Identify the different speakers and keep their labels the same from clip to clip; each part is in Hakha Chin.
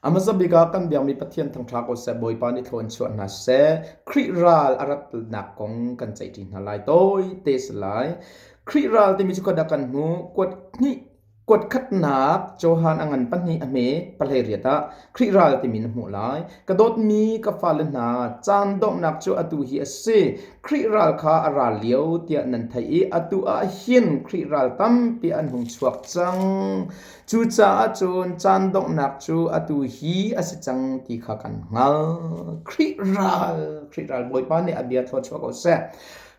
Speaker 1: A hmasa bik ah kan biakmi Pathian thangṭha ko seh Bawipa nih thlo an chuah hna seh Khrih ral a ratnak kong kan ceihṭi hna lai tawite si lai. Khrih ral timi cu khuadak kan hmu kuat hnih kuat khatnak Johan a ngan pahnih a hme palei riat ah Khrih ral timi na hmuh lai. Ka dawtmi ka fale hna caan donghnak cu atu hi a si. Khrih ral kha a ral lio tiah nan theih i atu ah hin Khrih ral tampi an hung chuak cang. Cucaah cun caan donghnak cu atu hi a si cang ti kha kan hngalh. Khrih ral, Khrih ral Bawipa nih a bia thluachuah ko seh.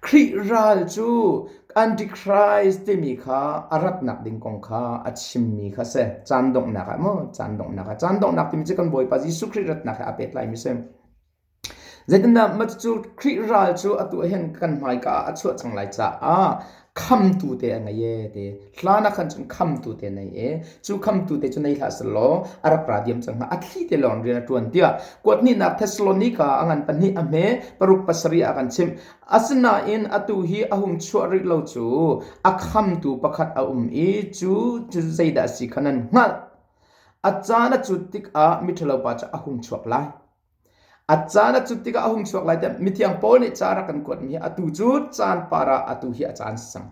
Speaker 1: Khrih ral cu Antichrist timi kha a ratnak ding kong kha a chimmi kha si. Caan donghnak ah maw? Caan donghnak ah. Caan donghnak timi cu kan Bawipa Jesuh Khrih ratnak he aa pehtlai mi si. Zeitindah cucu Khrih ral cu atu ah hin kan hmaika ah a chuah cang lai caah khamtu te a ngei ee ti. Hlan ah khan cun khamtu te nei ee. Cu khamtu te cu nei hlah selaw a rak ra diam cang hnga. A thli te lawng rian a ṭuan tiah kuat hnihnak Thessalonika a ngan pahnih a hme paruk pasarih ah a kan chimh. Asinain atu hi a hung chuah rih lo cu a khamtu pakhat a um i cu cu zeidah a si kha nan hngalh. A caan a cut tikah miṭhalo pa cu a hung chuak lai. A caan a cut tikah a hung chuak lai tiah mithiang Paul nih caan a kan kuatmi hi atu cu caan par ah atu hi a caan si cang.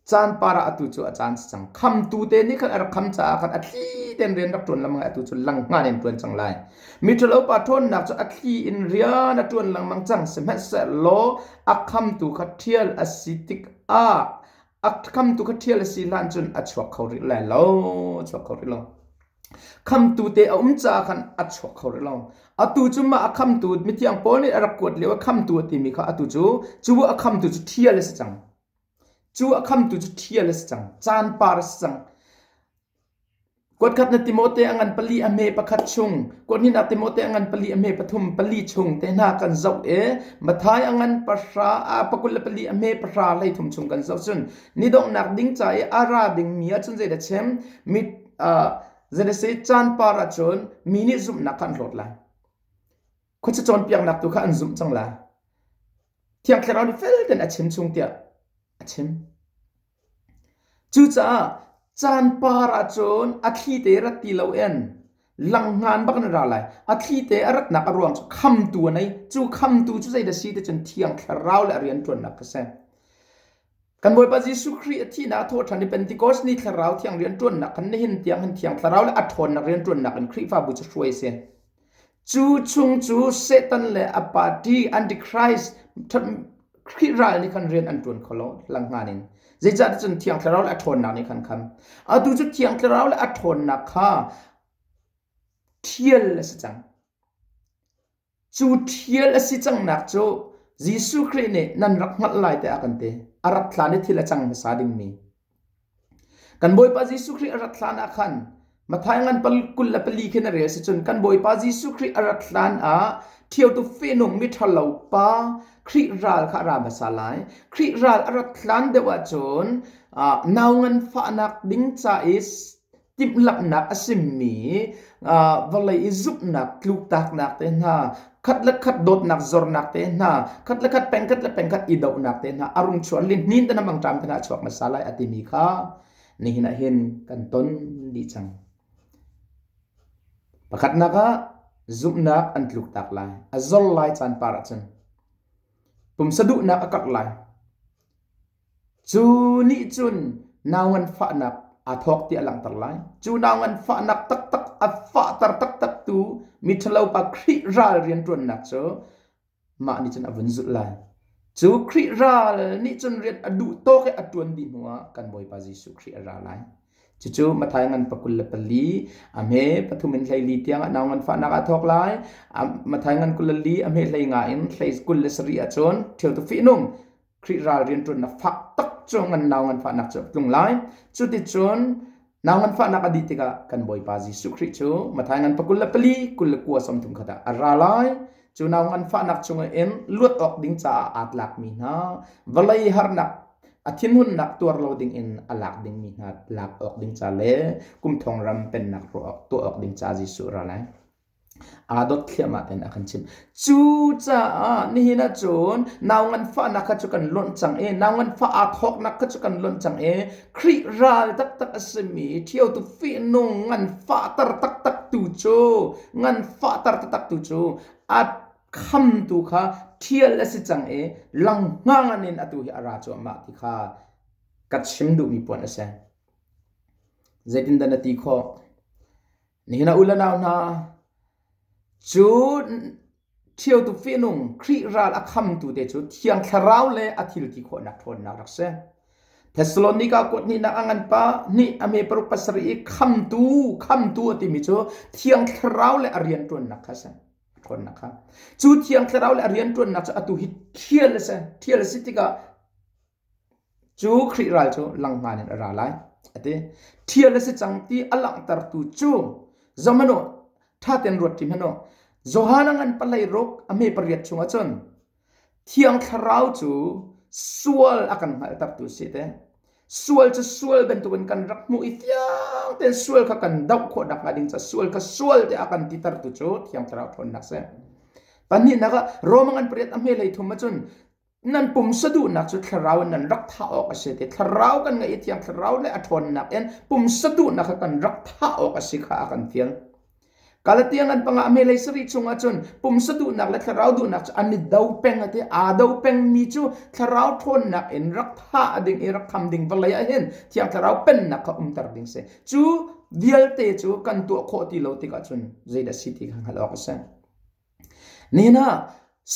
Speaker 1: Caan par ah atu cu a caan si cang. Khamtu te nih khan a rak kham caah khan a thli ten rian rak ṭuan lengmang i atu cu lang ngan in ṭuan cang lai. Miṭhalo pa ṭhawnnak cu a thli in rian a ṭuan lengmang cang sihmanhsehlaw a khamtu kha ṭhial a si tikah a khamtu kha ṭhial a si hlan cun a chuak kho rih lai lo, a chuak kho rih lo. Khamtu te a um caah khan a chuak kho rih lo. Atu cu mah a khamtu mithiang Paul nih a rak kuat lio a khamtu a timi kha atu cu cu a khamtu cu ṭhial a si cang. Cu a khamtu cu ṭhial a si cang. Caan par a si cang. Kuatkhat na Timote a ngan pali a hme pakhat chung, kuathnih na Timote a ngan pali a hme pathum pali chung te hna kan zoh e, Mathai a ngan pahra, a pakul le pali a hme pahra lei thum chung kan zoh cun, ni donghnak ding ca i a ra dingmi ah cun zeidah a chim? Zan a si caan par ahcun mi nih zumhnak kha an hlawt lai. Khuaca cawnpiaknak tu kha an zumh cang lai. Thiang Thlarau nih fel tein a chim chung tiah a chim. Cucaah caan par ahcun a thli te rat ti lo in langngan bak in ra lai. A thli te a ratnak a ruang cu khamtu a nei. Cu khamtu cu zei da si ti cun thiang thlarau le a rian ṭuannak kha a si. Kan Bawipa Jesuh Khrih a thihnak a thawhṭhan i Pentecost ni thlarau thiang rianṭuannak khan nihin tiang hin Thiang Thlarau le a ṭhawnnak rianṭuannak in Khrihfabu cu hruai a si. Cu chung cu Satan le a party Antichrist Khrih ral nih khan rian an ṭuan kho lo hlanghngan in. Zeicah cun Thiang Thlarau le a ṭhawnnak nih khan khan atu cu Thiang Thlarau le a ṭhawnnak kha ṭhial a si cang. Cu ṭhial a si cangnak cu Jesuh Khrih nih nan rak hngalh lai tiah a kan ti. A rat hlan i thil a cang hmasa dingmi. Kan Bawipa Jesuh Khrih a rat hlan ah khan Matthai ngan kul le pali khin a rel si cun kan Bawipa Jesuh Khrih a rat hlan ah ṭhiotu fehnung miṭhalo pa Khrih ral kha a ra hmasa lai. Khrih ral a rat hlan deuh ahcun nau nganfahnak ding ca i timhlamhnak a simi vawlei i zumhnak tluktaknak te hna khat le khat dawtnak zornak te hna khat le khat pengkhat le pengkhat i dohnak te hna a rung chuan lihnin te na mangṭam tangah chuak hmasa lai a timi kha nihin ah hin kan ton dih cang pakhatnak ah zumhnak an tluktak lai a zor lai caan par ahcun pumsa duhnak a karh lai Cu nih cun nau nganfahnak aa thawk ti a langhter lai. Cu nau nganfahnak taktak a fahter taktaktu miṭhalopa Khrih ral rianṭuannak cu mah nih cun a vun zulh lai. Cu Khrih ral nih cun rian a duh tawk i a ṭuan dih hnuah kan Bawipa Jesuh Khrih a ra lai. Cucu Matthai ngan pakul le pali a hme pathum in hleili tiangah nau nganfahnak aa thawk lai. A Matthai ngan kul le li a hme hlei nga in hlei kul le sarih ahcun ṭhio tu fihnung Khrih ral rianṭuannak fak tak cu ngan nau nganfahnak cu a tlung lai. Cuticun nau nganfahnak a dih tikah kan Bawipa Jesuh Khrih cu Matthai ngan pa kul le pali kul le kua sawmthum khat ah a ra lai. Cu nau nganfahnak chungah in luat awk ding caah aa tlakmi hna vawlei harnak a thinhunnak tuar lo ding in a lak dingmi hna lak awk ding ca le kum thong ram pennak tuah awk ding ca Jesuh ra lai. aa dot thliahmah tein a kan chimh. Cucaah nihin ahcun nau nganfahnak kha cu kan lonh cang i nau nganfah aa thawknak kha cu kan lonh cang i Khrih ral taktak a simi ṭhiotu fihnung nganfahter taktak tu cu nganfahter taktak tu cu a khamtu kha ṭhial a si cang i langhngang in atu hi a ra cuahmah ti kha ka chim duhmi puan a si. Zeitindah na ti khawh? Nihin ah u le nau hna, cun ṭhio tu fihnung Khrih ral a khamtu te cu Thiang Thlarau le a thil ti khawhnak ṭhawnnak rak si. Thessalonika kuat hnihnak a ngan pa hnih a me paruk pasarih i khamtu, khamtu a timi cu Thiang Thlarau le a rianṭuannak kha a si. Ṭhawnnak kha. Cu Thiang Thlarau le a rianṭuannak cu atu hi thial a si. Thial a si tikah Cu Khrih ral cu langhman in a ra lai, a ti. Ṭhial a si cang ti a langhtertu cu zom hmanh u, ṭha tein ruat ṭi hmanh u. Johan a ngan palei ruk a hme pariat chungah cun Thiang Thlarau cu sual a kan hngalhtertu a si te. Sual cu sual bantukin kan rak hmuh i fiang tein sual kha kan doh khawhnak hnga ding caah sual kha sual tiah a kan titertu cu Thiang Thlarau ṭhawnnak a si. Pahnihnak ah Rom a ngan pariat a hme hlei thum ah cun nan pumsa duhnak cu thlarau in nan rak thah awk a si ti thlarau kan ngeih i thiang thlarau le a ṭhawnnak in pumsa duhnak kha kan rak thah awk a si kha a kan fiang Galatian an panga me lei sari chungah cun pumsa duhnak le thlarau duhnak cu an i do peng ati aa do pengmi cu thlarau ṭhawnnak in rak thah ding i rak kham ding vawlei ah hin thiang thlarau pennak kha umter ding si cu vialte cu kan tuah khawh ti lo tikah cun zeidah si ti kha hngalh awk a si Nihin ah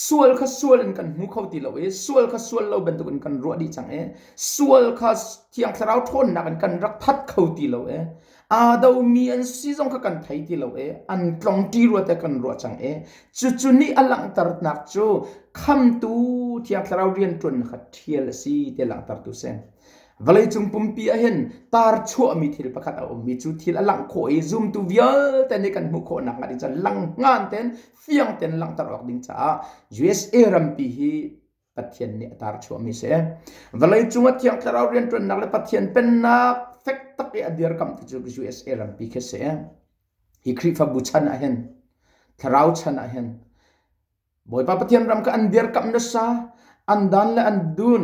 Speaker 1: sual kha sual in kan hmu kho ti lo i sual kha sual lo bantuk in kan ruah dih cang i sual kha Thiang Thlarau ṭhawnnak in kan rak that kho ti lo i aa domi an si zong kha kan thei ti lo i an tlongṭi rua te kan ruah cang i cucu nih a langhternak cu Khamtu Thiang Thlarau rianṭuannak kha ṭhial a si ti langhtertu a si. Vawleicung pumpi ah hin tar chuahmi thil pakhat a ummi cu thil a langh khawh i zumtu vialte nih kan hmuh khawh nakhnga ding cun langhnan ten fiang ten langhter awk ding caah USA rampi hi Pathian nih a tar chuahmi si. Vawlei cung a thiang thlarau riantuannak le Pathian pennak fek tak i a dirkamhtu cu USA rampi khi si. Hi Khrihfabu chan ah hin thlarau chan ah hin Bawipa Pathian ram kha an dirkamh nasa an dan le an dun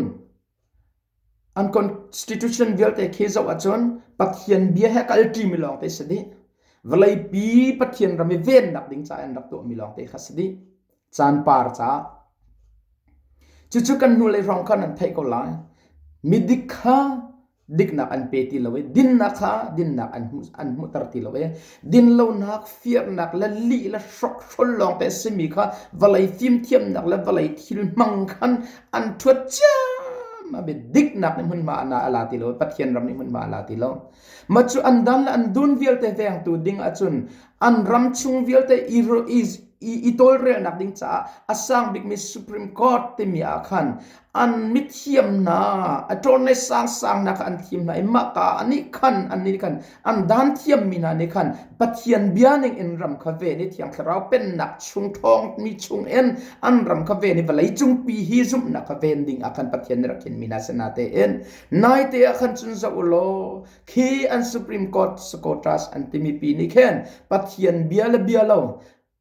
Speaker 1: an constitution vialte khi zoh ahcun Pathian bia he kalṭi mi lawng te si dih vawlei pi Pathian ram i vennak ding ca an rak tuah mi lawng te kha si dih caan par caah cucu kan hnulei hrawng khan an theih ko lai midik kha diknak an pe ti lo i dinnak kha dinnak an hmuh an hmuhter ti lo i din lonak firnak le lih le hrokhrol lawngte a simi kha vawlei fimthiamnak le vawlei thil hmang khan an ṭhuat ciam a bit diknak nih hmunhma ana ala ti lo pathian ram nih hmunhma ala ti lo ma cu an dan le an dun vialte vengtu ding ahcun an ram chung vialte i i i tawlrelnak ding caah a sang bikmi supreme court timi ah khan An mithiamnak a ṭawn le sangsangnak kha an thim hna i mahka ah nih khan an nih khan an dan thiammi hna nih khan Pathian bia ningin ram kha ven i Thiang Thlarau Pennak chung ṭhawngmi chungin an ram kha ven i vawleicung pi hi zumhnak kha ven dingah khan Pathian nih rak khinmi hna sinah tein naite ah khan cun zoh u law khi an Supreme Court Socrates an timi pi nih khin Pathian bia le bia lo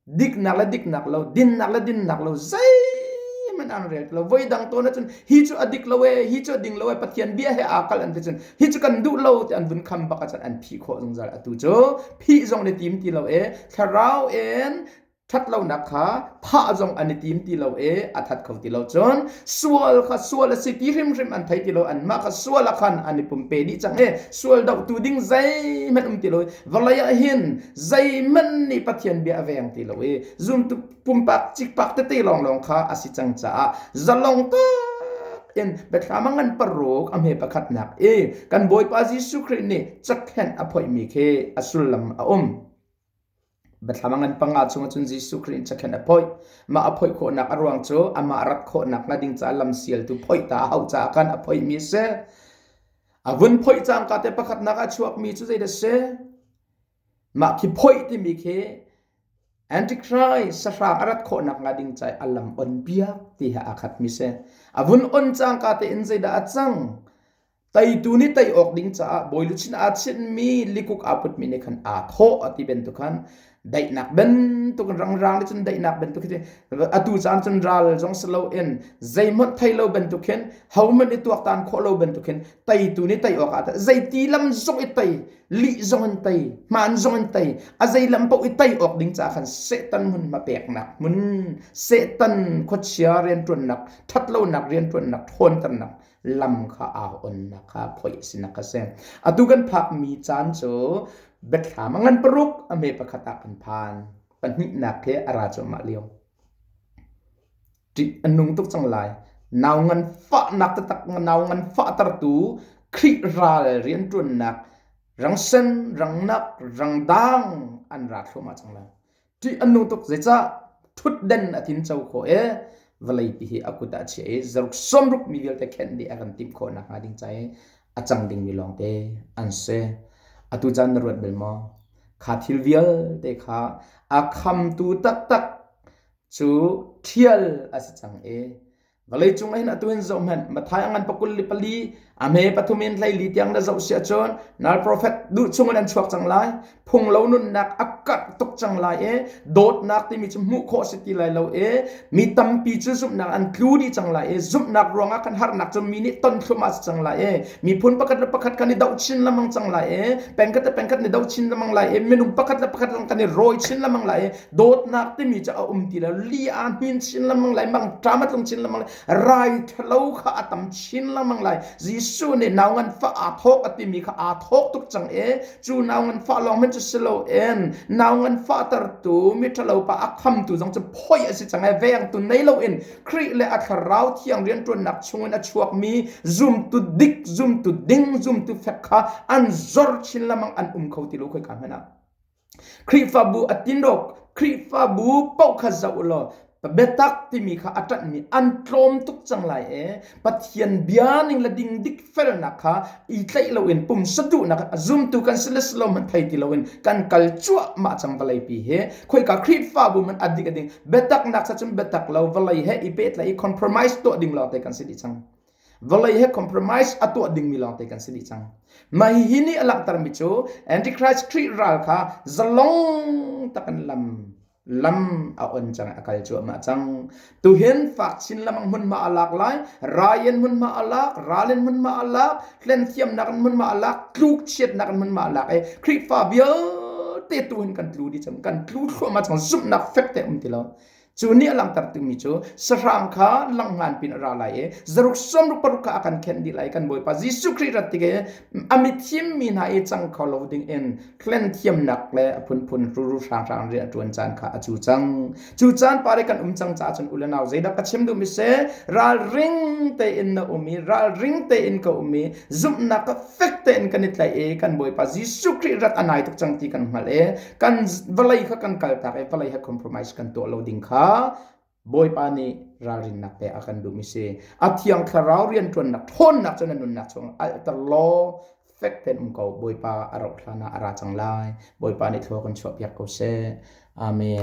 Speaker 1: diknak le diknak lo dinnak le dinnak lo zeihmanh an rel lo voi dang tawn ahcun hi cu a dik lo e hi cu a ding lo e pathian bia he aa kalh an ti cun hi cu kan duh lo ti an vun kham bak ahcun an phih khawh zungzal atu cu phih zong ni tim ti lo e thlarau in ṭhat lonak kha thah zong an i tim ti lo e a that kho ti lo cun sual kha sual a si ti hrimhrim an thei ti lo anmah kha sual ah khan an i pumpe dih cang e sual dohtu ding zeihmanh um ti lo Vawlei ah hin zeihmanh nih Pathian bia a veng ti lo i zumtu pumpak cikpak tete lawnglawng kha a si cang caah zalong tak in biathlam a ngan paruk a hme pakhatnak i kan Bawipa Jesuh Khrih nih cakhenh a phoihmi khi a sullam a um. Biathlam a ngan panga chung cun Jesuh Khrih in cakhenh a phoih. Mah a phoih khawhnak a ruang cu amah rak khawhnak hnga ding ca lam sialtu phoih ta a hau caah khan a phoihmi a si. A vun phoih cangka te pakhatnak a chuakmi cu zei da si? Mah khi phoih timi khi Antichrist sahrang a rat khawhnak hnga ding cai a lam on piak ti ha aa khat mi si. A vun on cangka tein zeidah a cang? Teitu nih tei awk ding caah bawiluchin aa chinhmi likuk aa putmi nih khan aa thawh a ti bantuk khan daihnak bantuk in rang ral cun daihnak bantuk hi atu caan cun ral zong si lo in zeihmanh thei lo bantuk hin homan i tuaktan khawh lo bantuk hin teitu nih tei awk ah zeiti lam zong i tei li zong in tei hman zong in tei a zei lam paoh i tei awk ding ca khan setan hmun ma peknak hmun setan khuachia riantuannak ṭhat lonak riantuannak ṭhawnternak lam kha aa onnak kha phoih sinak a si. Atu kan phakmi caan cu biathlam ngan paruk a me pakhat ah kan phan. Pahnihnak khi a ra cuahmah lio. Ṭih a nung tuk cang lai. Nau ngan fahnak tatak nau ngan fahtertu Khrih ral rianṭuannak rang sen, rang nak, rang dang an ra thluahmah cang lai. ṭih an nung tuk zeicah ṭhutden a thim co khawh i vawlei pi hi a kut ah a chiah i zaruk sawmruk mi vialte khenh dih a kan timh khawh nakhnga ding ca i a cang dingmi lawngte an si atu caan na ruat bel maw kha thil vialte kha a khamtu taktak cu ṭhial a si cang i Vawlei cung in atu in zoh hmanh Matthai a ngan pakul li pali a hme pathum in hlei li tiang na zoh siah cun nal profet duh chungin an chuak cang lai phung lo nunnak a karh tuk cang lai e dawtnak timi cu hmuh khawh si ti lai lo e mi tampi cu zumhnak an tlu dih cang lai e zumhnak ruangah kan harnak cu mi nih ton thlum a si cang lai e miphun pakhat le pakhat kan i doh chin lamang cang lai e pengkhat le pengkhat ni do chin lamang lai e minung pakhat le pakhat lang kan i rawi chin lamang lai e dawtnak timi cu a um ti lo li a hnin chin lengmang lai mang ṭam a tlung chin lengmang lai rai ṭhalo kha a tam chin lengmang lai Jesuh nih nau nganfah aa thawk a timi kha aa thawk tuk cang e cu nau nganfah lawng men cu si lo en nau nganfah tertu mi ṭhalo pa a khamtu zong cu phoi a si cang e vengtu nei lo in Khrih le a thlarau thiang rianṭuannak chungin a chuakmi zumtu dik zumtu ding zumtu fek kha an zor chin lengmang an um kho ti lo khoi ka hmena Khrihfabu a tinawk, Khrihfabu paoh kha zoh u law biatak timi kha a ṭanhmi an tlawm tuk cang lai e. Pathian bia ning le dingdik felnak kha i tlaih loin pumsa duhnak a zumtu kan si le si lo hmanh thei ti loin kan kal cuahmah cang vawleipi hi. Khoika Khrihfabu hmanh a dik a ding biataknak sa cun biatak lo vawlei he i pehtlaih i compromise tuah ding lawngte kan si dih cang. vawlei he compromise a tuah dingmi lawngte kan si dih cang mah hihi nih a langhtermi cu antichrist khrih ral kha zalong takin lam lam a on cang a kal cuahmah cang tu hin fak chin lamang hmun ma a lak lai rayen hmun ma a lak ralen hmun ma a lak hlen thiamnak hmun ma a lak tluk chiatnak hmun ma a lak e khrihfa vialte tu hin kan tlu di cang kan tlu thluahma cang zumhnak fek te um ti lo Cu nih a langhter dingmi cu sahrang kha lang ngan pin a ra lai i zaruk som ruk paruk kha a kan khenh dih lai kan Bawipa Jesuh Khrih rat tige a mithim mi hna i cang kho lo ding in hlen thiamnak le a phunphun ruru hranghrang rian a ṭuan caan kha a cu cang. Cu caan pare kan um cang caah cun u le nau zeidah ka chim duhmi se ralring tein na um i ralring tein ka um i zumhnak ka fek tein kan i tlaih i kan Bawipa Jesuh Khrih rat a nai tuk cang ti kan hngalh i kan vawlei kha kan kaltak i vawlei he compromise kan tuah lo ding kha Bawipa nih ralrinnak pe a kan duh mi si a thiang thlarau riantuannak ṭhawnnak cu na nunnak chung alter law fek ten um ko Bawipa a rauh hlan ah a ra cang lai Bawipa nih thlua kan chuahpiak ko seh Amen